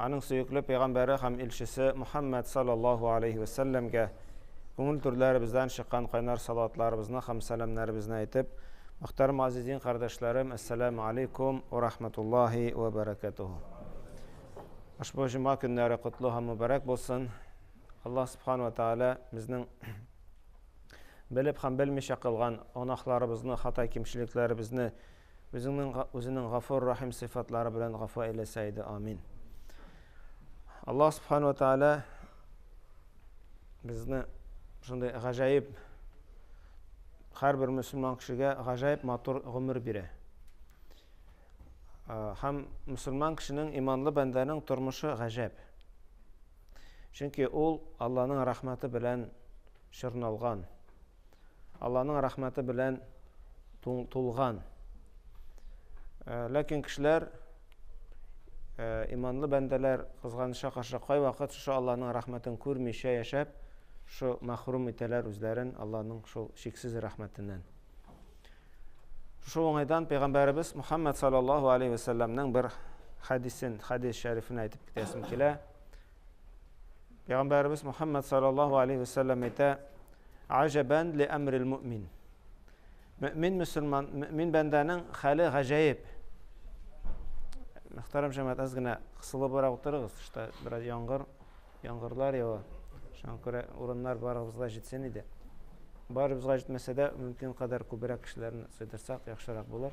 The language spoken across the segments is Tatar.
Аның сөекле пәйгамбәре һәм илчесе Мөхәммәд салләллаһу алейһи вә сәлләмгә күңел түрләребездән чыккан кайнар салаватларыбызны һәм сәламнәребезне әйтеп, Мөхтәрәм газиз дин кардәшләрем, Әссәләмү алейкум вә рахмәтуллаһи вә бәрәкәтүһү. Ошбу җома көннәре котлы һәм мөбәрәк булсын. Аллаһ субхана вә тәгалә безнең белеп һәм белмичә кылган гөнаһларыбызны, хата кимчелекләребезне Үзеңнең Үзенең Гафур Рахим сыйфатлары белән гафу әйләсә иде. Амин. Аллаһ Субхану ва Тааля безне шундый гаҗәеп һәрбер мөселман кешегә гаҗәеп матур гомер бирә. Һәм мөселман кешенең иманлы бәндәнең тормышы гаҗәп. Чөнки ул Алланың рәхмәте белән чорналган, Алланың рәхмәте белән тулган. Э, ләкин кешеләр э, иманлы бәндәләр кызганыча каршы кайвакыт шушы Алланың рәхмәтен күрмичә яшәп, шу мәхрүм итәләр үзләрен Алланың шул шиксез рәхмәтеннән. Шушы уңайдан пәйгамбәребез Мухаммад саллаллаһу алейхи ва бер хәдисен, хәдис шәрифен әйтеп китәсем килә. Пәйгамбәребез Мухаммад саллаллаху алейхи вәсәлләм әйтә: "Аҗабан ли әмрил муъмин". Мөмин мусульман, мөмин бәндәнең хәле гаҗәеп. Мөхтәрәм җәмәгать, аз гына кысылыбрак утырыгыз, тышта бераз яңгыр, яңгырлар ява. Шуңа күрә урыннар барыбызга җитсен иде. Барыбызга җитмәсә дә, мөмкин кадәр күбрәк кешеләрне сыйдырсак, яхшырак булыр.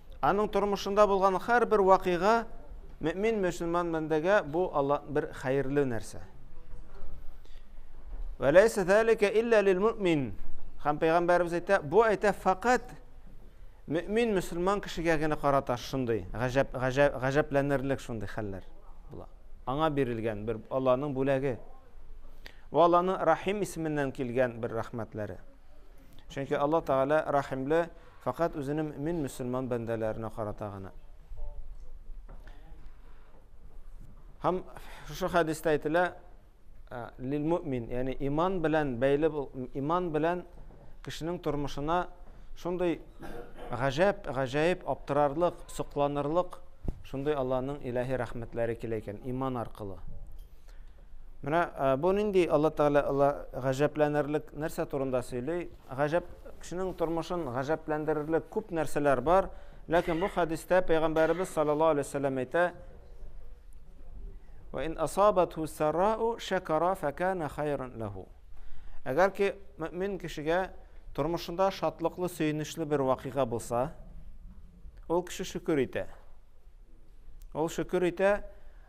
Аның тормышында булган һәрбер вакыйга мөмин мөселман бәндәгә бу Алла бер хәерле нәрсә. Вәләйсә зәликә илля лил мөмин. Хәм пәйгамбәрбез әйтә, бу әйтә факат мөмин мөселман кешегә генә карата шундый гаҗәп гаҗәп гаҗәпләнерлек шундый хәлләр була. Аңа бирелгән бер Алланың бүләге. Ва Алланың Рахим исеменнән килгән бер рәхмәтләре. Чөнки Алла Тәгалә рәхимле фәкать үзенең мин мөселман бәндәләренә карата гына. Һәм шушы хәдистә әйтелә, ә, лил мөмин, ягъни иман белән бәйле иман белән кешенең тормышына шундый гаҗәп, гаҗәеп, аптырарлык, сокланырлык шундый Алланың илаһи рәхмәтләре килә икән иман аркылы. Менә бу нинди Алла Тәгалә Алла гаҗәпләнерлек нәрсә турында сөйли? Гаҗәп кешенең тормышын гаҗәпләндерерлек күп нәрсәләр бар, ләкин бу хәдистә пәйгамбәребез саллаллаһу алейһи вәсәлләм әйтә: "Ва ин асабату сарау шакара факана хайран лаху". Әгәр ки мөмин кешегә тормышында шатлыклы, сөенечле бер вакыйга булса, ул кеше шөкер итә. Ул шөкер итә,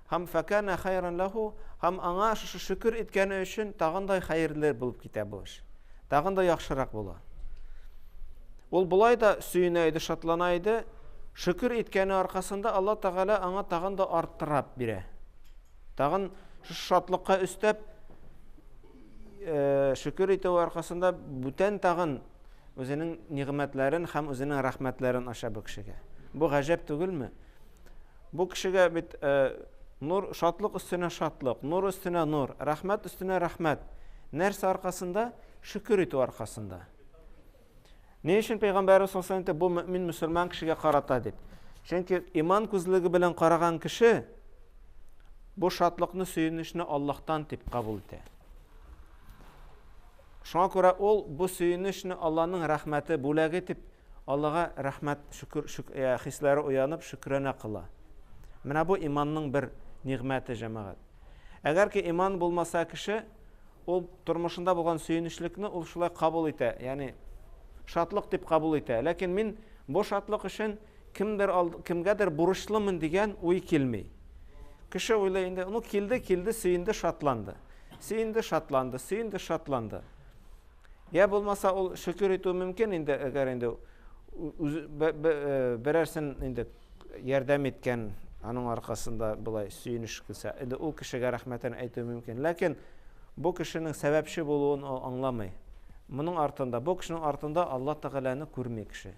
Һәм фәкәнә хәйрән ләһү, һәм аңа шушы шөкер иткәне өчен тагын да хәерле булып китә бу эш. Тагын да яхшырак була. Ул болай да сөенә иде, шатлана иде. Шөкер иткәне аркасында Алла Тәгалә аңа тагын да арттырап бирә. Тагын шушы шатлыкка өстәп э, шөкер итү аркасында бүтән тагын үзенең нигъмәтләрен һәм үзенең рәхмәтләрен ача бу кешегә. Бу гаҗәп түгелме? Бу кешегә бит э, нур, шатлык өстенә шатлык, нур өстенә нур, рәхмәт өстенә рәхмәт. Нәрсә аркасында? Шөкер итү аркасында. Ни өчен Пәйгамбәрбез саллаллаху алейһи бу мөмин мөселман кешегә карата дип? Чөнки иман күзлеге белән караган кеше бу шатлыкны, сөенечне Аллаһтан дип кабул итә. Шуңа күрә ул бу сөенечне Аллаһның рәхмәте, бүләге дип Аллага рәхмәт, шөкер, шөк, ә, хисләре уянып, шөкранә кыла. Менә бу иманның бер нигъмәте, җәмәгать. Әгәр ки иман булмаса кеше, ул тормышында булган сөенечлекне ул шулай кабул итә, ягъни шатлык дип кабул итә. Ләкин мин бу шатлык өчен кемдер алд, кемгәдер бурычлымын дигән уй килми. Кеше уйлый инде, ну килде, килде, сөенде, шатланды. Сөенде, шатланды, сөенде, шатланды. Йә булмаса ул шөкер итү мөмкин инде, әгәр инде үзе берәрсен инде ярдәм иткән, аның аркасында болай сөенеш килсә, инде ул кешегә рәхмәтен әйтү мөмкин. Ләкин бу кешенең сәбәпче булуын ул аңламый. Моның артында, бу кешенең артында Алла Тәгаләне күрми кеше.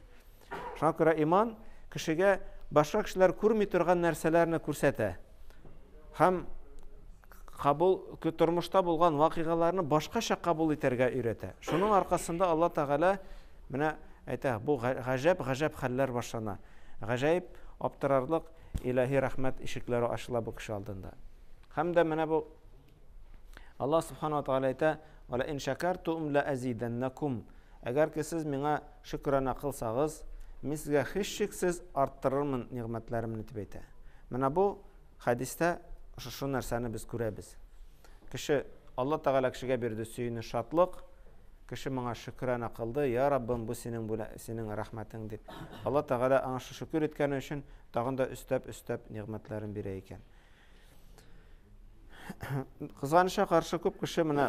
Шуңа күрә иман кешегә башка кешеләр күрми торган нәрсәләрне күрсәтә. Һәм кабул тормышта булган вакыйгаларны башкача кабул итәргә өйрәтә. Шуның аркасында Алла Тәгалә менә әйтә, бу гаҗәп, гаҗәп хәлләр башлана. Гаҗәеп, аптырарлык илаһи рәхмәт ишекләре ачыла бу кеше алдында. Һәм дә менә бу Аллаһ субхана ва тааля әйтә, "Вала ин шакартум ла азиданнакум". Әгәр ки сез миңа шөкранә кылсагыз, мин сезгә һичшиксез арттырырмын нигъмәтләремне дип әйтә. Менә бу хәдистә шушы нәрсәне без күрәбез. Кеше Алла Тәгалә кешегә бирде сөенеч, шатлык. Кеше моңа шөкранә кылды, "Я Раббым, бу синең бүлә, синең рәхмәтең" дип. Алла Тәгалә аңа шөкер иткәне өчен тагын да өстәп-өстәп нигъмәтләрен бирә икән. Кызганычка каршы күп кеше менә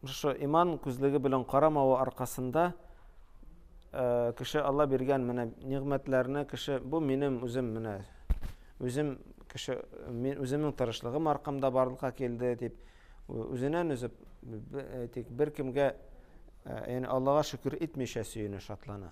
шушы иман күзлеге белән карамавы аркасында кеше Алла биргән менә нигъмәтләрне кеше бу минем үзем менә үзем кеше мин үземнең тырышлыгым аркамда барлыкка килде дип үзеннән үзе тик беркемгә яни Аллага шөкер итмичә сөенә шатлана.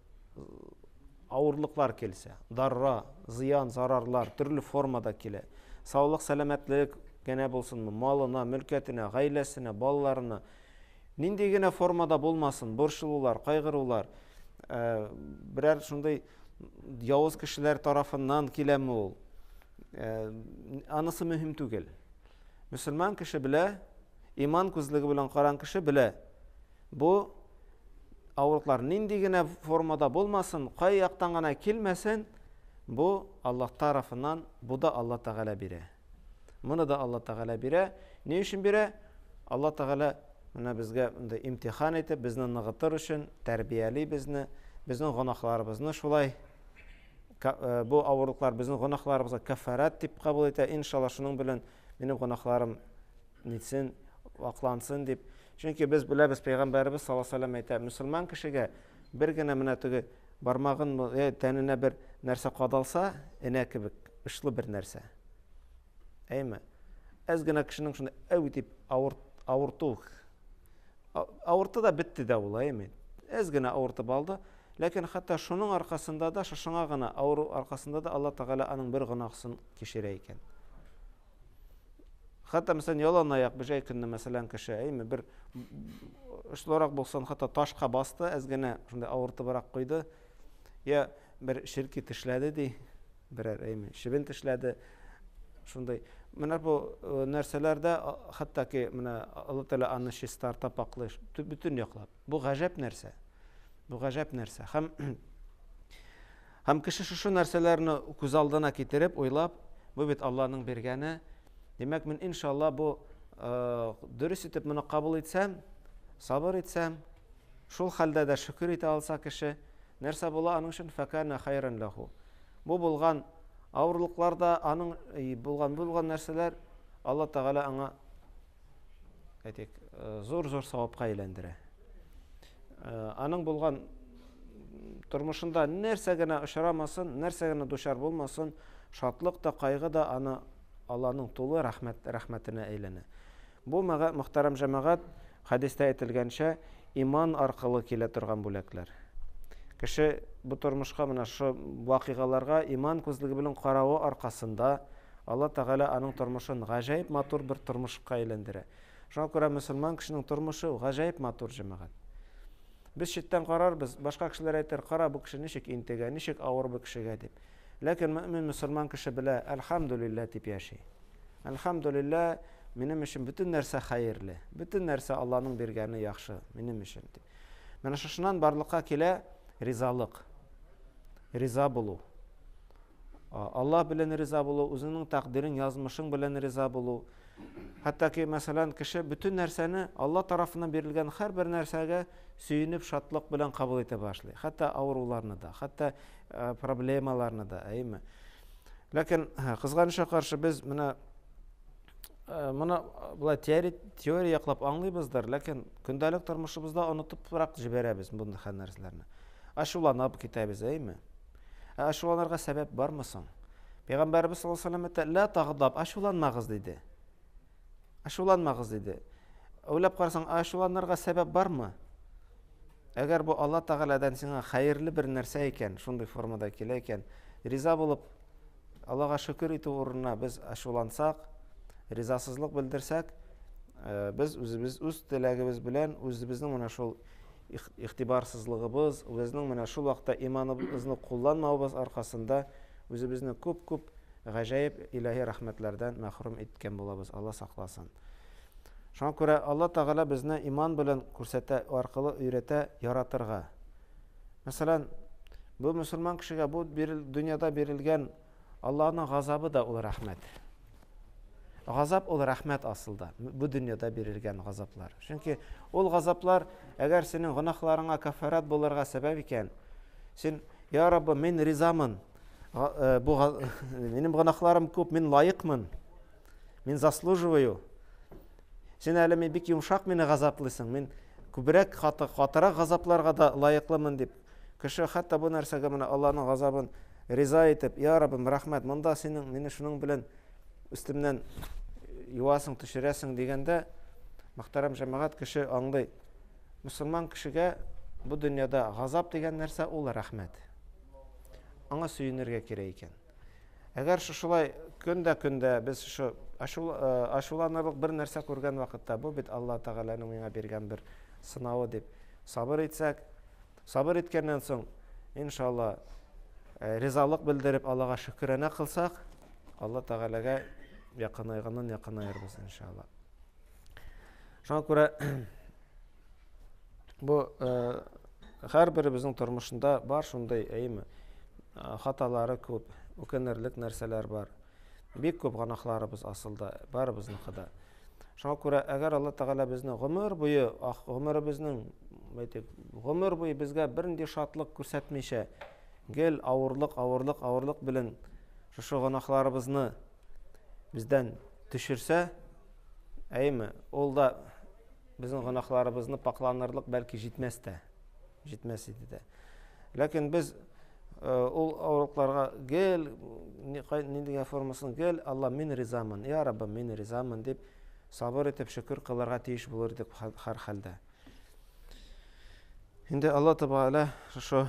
авырлыклар килсә, дарра, зыян, зарарлар төрле формада килә. Саулык, сәламәтлек генә булсынмы, малына, мөлкәтенә, гаиләсенә, балаларына, нинди генә формада булмасын, борчылулар, кайгырулар, э, берәр шундый явыз кешеләр тарафыннан киләме ул? Э, анысы мөһим түгел. Мөселман кеше белә, иман күзлеге белән каран кеше белә. Бу авырлыклар нинди генә формада булмасын, кай яктан гына килмәсен, бу Аллаһ тарафыннан, бу да Аллаһ Тәгалә бирә. Моны да Аллаһ Тәгалә бирә. Ни өчен бирә? Аллаһ Тәгалә менә безгә инде имтихан итеп, безне ныгытыр өчен тәрбияли безне, безнең гөнаһларыбызны шулай э, бу авырлыклар безнең гөнаһларыбызга кафарат дип кабул итә. Иншалла шуның белән минем гөнаһларым Нитсен, аклансын дип. Чөнки без беләбез, пәйгамбәребез саллаллаһу алейһи вәсәлләм әйтә, мөселман кешегә бер генә менә теге бармагын э, тәненә бер нәрсә кадалса, энә кебек очлы бер нәрсә. Әйме? Әз генә кешенең шуны әү дип авырт, авырту. Авырты да бетте дә ул, әйме? Әз генә авыртып алды. Ләкин хәтта шуның аркасында да, шушыңа гына авыру аркасында да Алла Тәгалә аның бер гөнаһысын кешерә икән. Хәтта мәсәлән ялан аяк бер җай көнне мәсәлән кеше әйме бер очлырак булсын хәтта ташка басты, әз генә шундый авыртыбрак куйды. Я бер ширки тешләде ди, берәр әйме чебен тешләде. Шундый менә бу нәрсәләрдә хәтта ки менә Алла Тәгалә аны чистарта паклый, бөтен яклап. Бу гаҗәп нәрсә. Бу гаҗәп нәрсә. Һәм һәм кеше шушы нәрсәләрне күз алдына китереп, уйлап, бу бит Аллаһның биргәне. Димәк, мин иншалла бу э, дөрес итеп моны кабул итсәм, сабыр итсәм, шул хәлдә дә шөкер итә алса кеше, нәрсә була аның өчен фәкана хайран лаху. Бу булган авырлыкларда аның э, булган булган нәрсәләр Алла Тәгалә аңа әйтик, э, зур-зур савапка әйләндерә. Э, аның булган тормышында нәрсә генә очрамасын, нәрсә генә дучар булмасын, шатлык та, кайгы да аны Алланың тулы рәхмәт рәхмәтенә әйләнә. Бу мөхтәрәм җәмәгать хәдистә әйтелгәнчә иман аркылы килә торган бүләкләр. Кеше бу тормышка менә шу вакыйгаларга иман күзлеге белән каравы аркасында Алла Тәгалә аның тормышын гаҗәеп матур бер тормышка әйләндерә. Шуңа күрә мөселман кешенең тормышы ул гаҗәеп матур, җәмәгать. Без читтән карарбыз, башка кешеләр әйтер, кара, бу кеше ничек интегә, ничек авыр бу кешегә, дип. Ләкин мөэмин мөселман кеше белә, әлхәмдүлилләһ дип яши. Әлхәмдүлилләһ, минем өчен бөтен нәрсә хәерле, бөтен нәрсә Алланың биргәне яхшы минем өчен, дип. Менә шушыннан барлыкка килә ризалык, риза булу. Аллаһ белән риза булу, үзеңнең тәкъдирең, язмышың белән риза булу. Хәтта ки, мәсәлән, кеше бөтен нәрсәне Алла тарафыннан бирелгән һәрбер нәрсәгә сөенеп, шатлык белән кабул итә башлый. Хәтта авыруларны да, хәтта э, проблемаларны да, әйме. Ләкин э, кызганычка каршы без менә э, моны болай теория, теория яклап аңлыйбыздыр, ләкин көндәлек тормышыбызда онытыбрак җибәрәбез мондый хәл нәрсәләрне. Ачуланып китәбез, әйме? Ә ачуланырга сәбәп бармы соң? Пәйгамбәрбез саллаллаһу алейһи ва сәлләм әйтә, "Ла тагдаб", ачуланмагыз диде. Ачуланмагыз диде. Уйлап карасаң, ачуланырга сәбәп бармы? Әгәр бу Алла Тәгаләдән сиңа хәерле бер нәрсә икән, шундый формада килә икән, риза булып Аллага шөкер итү урынына без ачулансак, ризасызлык белдерсәк, э, без үзебез үз теләгебез белән үзебезнең менә шул игътибарсызлыгыбыз, безнең менә шул вакытта иманыбызны кулланмавыбыз аркасында үзебезне күп-күп гаҗәеп илаһи рәхмәтләрдән мәхрүм иткән булабыз, Алла сакласын. Шуңа күрә Алла Тәгалә безне иман белән күрсәтә аркылы өйрәтә яратырга. Мәсәлән, бу мөселман кешегә бу дөньяда бирелгән Аллаһның газабы да ул рәхмәт. Газап ул рәхмәт асылда. Бу дөньяда бирелгән газаплар. Чөнки ул газаплар, әгәр синең гөнаһларыңа кафарат булырга сәбәп икән, син, я Раббы, мин ризамын. Э, бу минем гөнаһларым күп, мин лаекмын. Мин заслуживаю. Син әле мин бик йомшак мине газаплыйсың. Мин күбрәк каты, катырак газапларга да лаеклымын дип Кеше хәтта бу нәрсәгә менә Аллаһның газабын риза итеп, Я Раббым, рәхмәт, монда синең мине шуның белән өстемнән юасың, төшерәсең дигәндә, мөхтәрәм җәмәгать, кеше аңлый. Мөселман кешегә бу дөньяда газап дигән нәрсә ул рәхмәт. Аңа сөенергә кирәк икән. Әгәр шушылай көндә-көндә без шушы ачуланырлык бер нәрсә күргән вакытта, бу бит Алла Тәгаләнең миңа биргән бер сынавы дип сабыр итсәк, Сабыр иткәннән соң, иншалла, э, ризалык белдереп, Аллага шөкранә кылсак, Алла Тәгаләгә якынайганнан якынаербыз, иншалла. Шуңа күрә бу э, һәрберебезнең тормышында бар шундый, әйеме, э, хаталары күп, үкенерлек нәрсәләр бар. Бик күп гөнаһларыбыз асылда, барыбызның да. Шуңа күрә, әгәр Алла Тәгалә безне гомер буе, ах, гомеребезнең, әйтик, гомер буе безгә бернинди шатлык күрсәтмичә, гел авырлык, авырлык, авырлык белән шушы гөнаһларыбызны бездән төшерсә, әйме, ул да безнең гөнаһларыбызны пакланырлык бәлки җитмәс тә. җитмәс иде дә. Ләкин без ул авырлыкларга гел ниндигә формасын гел Алла мин ризамын, я Раббым мин ризамын дип сабыр итеп шөкер кылырга тиеш булыр идек һәр хәлдә. Инде Алла Тәбәалә шушы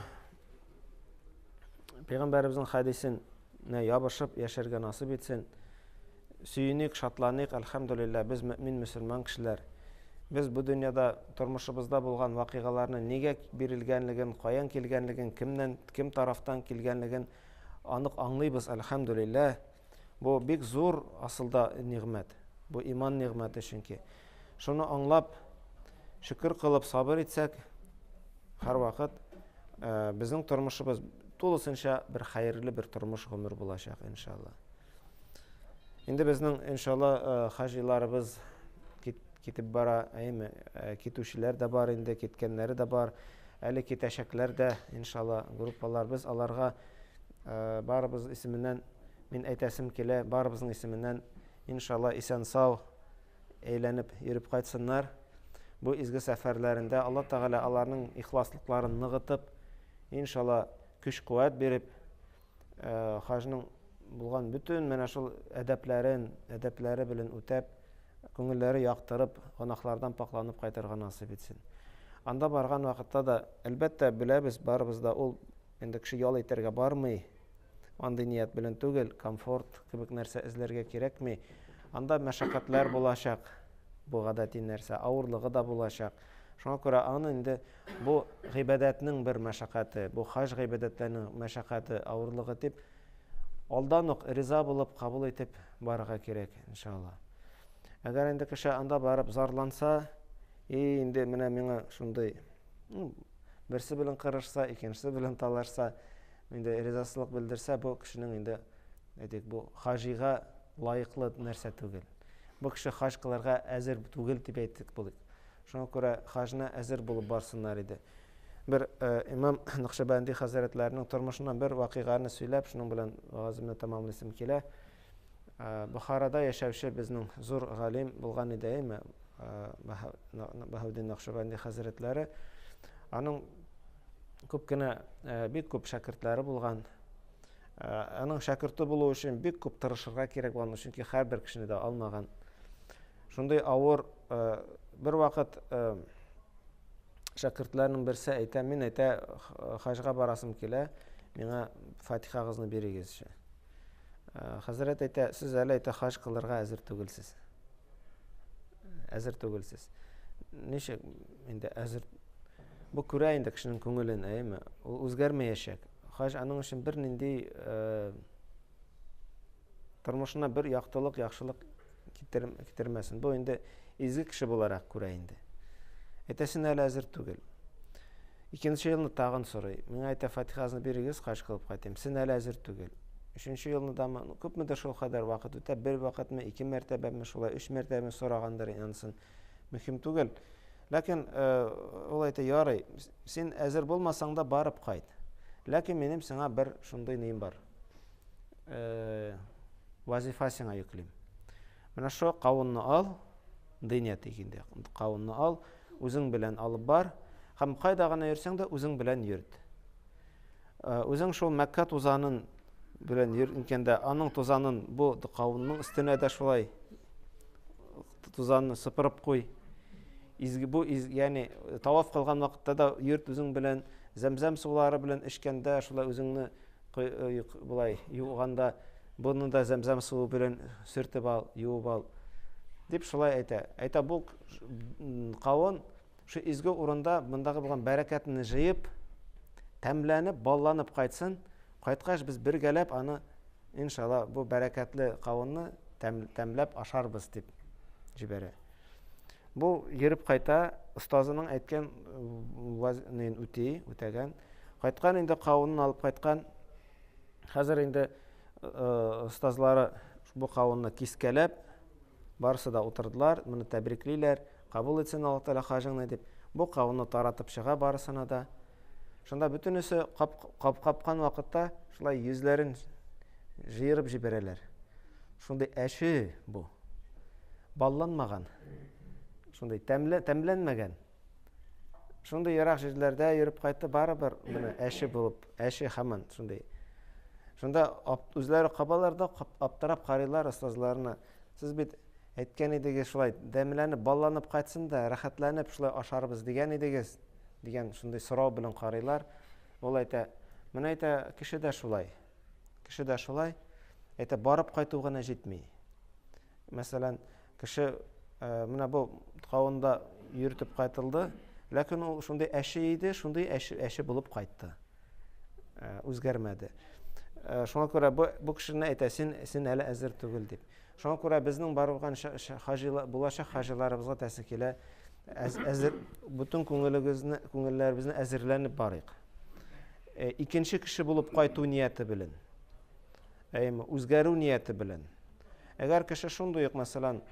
пәйгамбәребезнең хәдисен Нә ябышып яшәргә насыйп итсен. Сөеник, шатланыйк, әлхәмдүлилләһ, без мөэмин мөселман кешеләр. Без бу дөньяда тормышыбызда булган вакыйгаларны нигә бирелгәнлеген, каян килгәнлеген, кемнән, кем тарафтан килгәнлеген анык аңлыйбыз, әлхәмдүлилләһ. Бу бик зур асылда нигъмәт. Бу иман нигъмәте чөнки. Шуны аңлап, шөкер кылып сабыр итсәк, һәрвакыт э, безнең тормышыбыз тулысынча бер хәерле бер тормыш гомер булачак, иншалла. Инде безнең, иншалла, э, хаҗиларыбыз китеп бара, әйме, э, китүчеләр дә бар инде, киткәннәре дә бар, әле китәчәкләр дә, иншалла, группалар. Без аларга э, барыбыз исеменнән, мин әйтәсем килә, барыбызның исеменнән, иншалла, исән-сау, әйләнеп йөреп кайтсыннар. Бу изге сәфәрләрендә Алла Тәгалә аларның ихласлыкларын ныгытып, иншалла көч-куәт биреп, э, хаҗның булган бөтен менә шул әдәпләрен, әдәпләре белән үтәп, күңелләре яктырып, гынахлардан пакланып кайтырга насыйп итсен. Анда барган вакытта да, әлбәттә, беләбез, барыбыз да ул Инде кеше ял итәргә бармый, андый ният белән түгел, комфорт кебек нәрсә эзләргә кирәкми. Анда мәшәкатьләр булачак, бу гадәти нәрсә, авырлыгы да булачак. Шуңа күрә аны инде бу гыйбадәтнең бер мәшәкате, бу хаҗ гыйбадәтләренең мәшәкате, авырлыгы дип, алдан ук риза булып, кабул итеп барырга кирәк, иншалла. Әгәр инде кеше анда барып зарланса, и инде менә миңа шундый ну, берсе белән кырышса, икенчесе белән талашса, инде ризасызлык белдерсә, бу кешенең инде әйтик, бу хаҗига лаеклы нәрсә түгел. Бу кеше хаҗ кылырга әзер түгел дип әйтик булыйк. Шуңа күрә хаҗына әзер булып барсыннар иде. Бер э, имам Нәкъшәбәнди хәзрәтләренең тормышыннан бер вакыйганы сөйләп, шуның белән вагазымны тәмамлыйсым килә. Бохарада яшәүче безнең зур галим булган иде, әйме, Баһаветдин Нәкъшбәнди хәзрәтләре. Аның күп кенә, бик күп шәкертләре булган. Аның шәкерте булу өчен бик күп тырышырга кирәк булган, чөнки һәрбер кешене дә алмаган. Шундый авыр, бер вакыт шәкертләрнең берсе әйтә, мин әйтә, хаҗга барасым килә, миңа фатихагызны бирегезче. Хәзрәт әйтә, сез әле әйтә хаҗ кылырга әзер түгелсез. Әзер түгелсез. Ничек инде әзер бу күрә инде кешенең күңелен, әйме? Ул үзгәрмәячәк. Хаҗ аның өчен бернинди тормышына бер яктылык, яхшылык Китер, китермәсен. Бу инде изге кеше буларак күрә инде. Әйтәсенә әле әзер түгел. Икенче елны тагын сорый. Миңа әйтә, фатихазны бирегез, хаҗ кылып кайтыйм. Сен әле әзер түгел. Өченче елны дамы, ну, күпмедер шул кадәр вакыт үтә, бер вакытмы, ике мәртәбәме, шулай үч мәртәбәме сорагандыр, ансын мөһим түгел. Ләкин э, ул әйтә, ярый, син әзер булмасаң да барып кайт. Ләкин минем сиңа бер шундый ним бар. э, вазифа сиңа йөклим. Менә шо кавынны ал, дыня тик инде. Кавынны ал, үзең белән алып бар, һәм кайда гына йөрсәң дә үзең белән йөрт. Э, үзең шул Мәккә тузанын белән йөргәндә, аның тузанын бу кавынның өстенә дә шулай тузанны сыпырып куй. Изге бу, из, яни таваф кылган вакытта да йөрт үзең белән, зәмзәм сулары белән эчкәндә шулай үзеңне Кыюк болай юганда буны да зәмзәм суы белән сөртеп ал, юып ал, дип шулай әйтә. Әйтә бу кавын шу изге урында мондагы булган бәрәкәтне җыеп, тәмләнеп, балланып кайтсын. Кайткач без бергәләп аны иншалла бу бәрәкәтле кавынны тәм, тәмләп ашарбыз дип җибәрә. Бу йөреп кайта, остазының әйткән вазинен үти, үтәгән. Кайткан инде кавынын алып кайткан. Хәзер инде остазлары бу кавынны кискәләп, барысы да утырдылар, моны тәбриклиләр, кабул итсен Аллаһ Тәгалә хаҗыңны дип. Бу кавынны таратып чыга барысына да. Шунда бөтенесе кап-капкан вакытта шулай йөзләрен җыерып җибәрәләр. Шундый әче бу. Балланмаган. Шундый тәмле, тәмләнмәгән. Шундый ерак җирләрдә йөреп кайтты барыбер менә әче булып, әче хаман шундый. Шунда үзләре кабалар да аптырап карыйлар остазларына. Сез бит Әйткән идегез шулай, дәмләнеп, балланып кайтсын да, рәхәтләнеп шулай ашарбыз дигән идегез, дигән шундый сорау белән карыйлар. Ул әйтә, менә әйтә, кеше дә шулай. Кеше дә шулай. Әйтә, барып кайту гына җитми. Мәсәлән, кеше э, менә бу кавында йөртеп кайтылды, ләкин ул шундый әче иде, шундый әче, әче булып кайтты. Э, үзгәрмәде. Э, шуңа күрә бу, бу кешене әйтә, син, син әле әзер түгел дип. Шуңа күрә безнең барылган булачак хаҗиларыбызга тәэсир килә. Әзер бүтән күңелегезне, күңелләребезне әзерләнеп барыйк. Э, икенче кеше булып кайту нияте белән. Әйме, үзгәрү нияте белән. Әгәр кеше шундый ук, мәсәлән,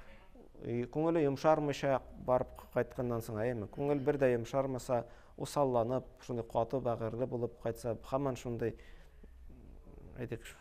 күңеле йомшармыйча барып кайтканнан соң, әйме, күңел бер дә йомшармаса, усалланып, шундый каты бәгырьле булып кайтса, хаман шундый әйтик,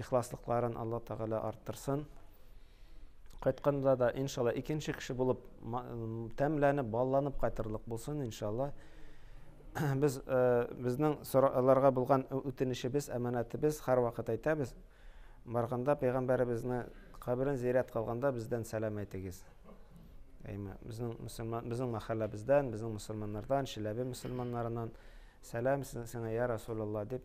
Ихласлыкларын Алла Тәгалә арттырсын. Кайтканда да, иншалла, икенче кеше булып тәмләнеп, балланып кайтырлык булсын, иншалла. Без э, безнең аларга булган үтенечебез, әманәтебез һәрвакыт әйтәбез. Барганда пәйгамбәребезне каберен зиярәт кылганда бездән сәлам әйтегез. Әйме, безнең мусульман, безнең мәхәлләбездән, безнең мусульманнардан, Чиләбе мусульманнарыннан сәлам сиңа, я Расулулла дип